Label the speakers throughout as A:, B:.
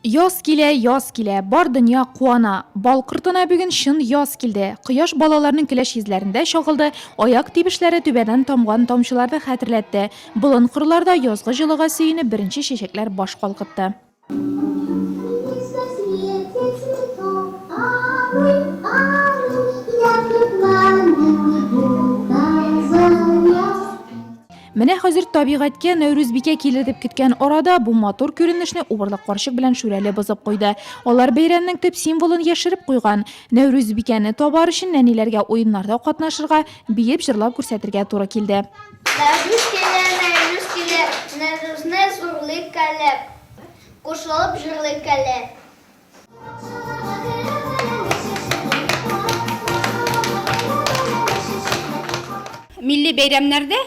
A: Яз килә, яз килә, бар дөнья куана. Бал кортына бүген чын яз килде. Кояш балаларның көләч йөзләрендә чагылды, аяк тибешләре түбәдән тамган тамчыларны хәтерләтте. Болын кырларда язгы җылыга сөенеп беренче чәчәкләр баш калкытты. Менә хәзер табигатькә Нәүрүзбикә килер дип көткән арада бу матур күренешне убырлык карчык белән Шүрәле бозып куйды. Алар бәйрәмнең төп символын яшереп куйган. Нәүрүзбикәне табар өчен нәниләргә уеннарда катнашырга, биеп, җырлап күрсәтергә туры килде. Нәүрүз килә,
B: Нәүрүз килә, Нәүрүзне зурлыйк әле, Кушылып җырлыйк әле.
C: Милли бәйрәмнәрдә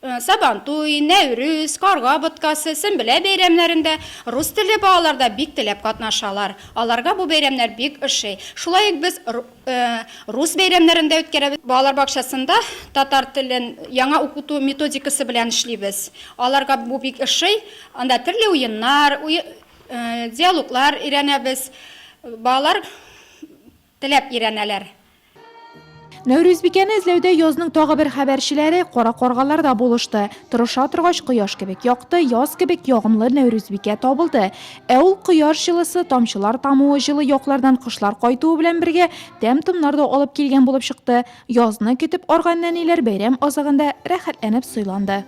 C: Э, сабантуй нәүрүз карга боткасы сөнбелә бәйрәмнәрендә рус телле балалар да бик теләп катнашалар аларга бу бәйрәмнәр бик ошый шулай ук без э, рус бәйрәмнәрен дә үткәрәбез балалар бакчасында татар телен яңа укыту методикасы белән эшлибез аларга бу бик ошый анда төрле уеннар Диалоглар өйрәнәбез. Балалар теләп өйрәнәләр. Нәүрүзбикәне
A: эзләүдә язның тагы бер хәбәрчеләре, кара каргалар да булышты. Тырыша торгач, кояш кебек якты, яз кебек ягымлы Нәүрүзбикә табылды. Ә ул кояш җылысы, тамчылар тамуы, җылы яклардан кышлар кайтуы белән бергә, тәм-томнар да алып килгән булып чыкты. Язны көтеп арган нәниләр бәйрәм азагында рәхәтләнеп сыйланды.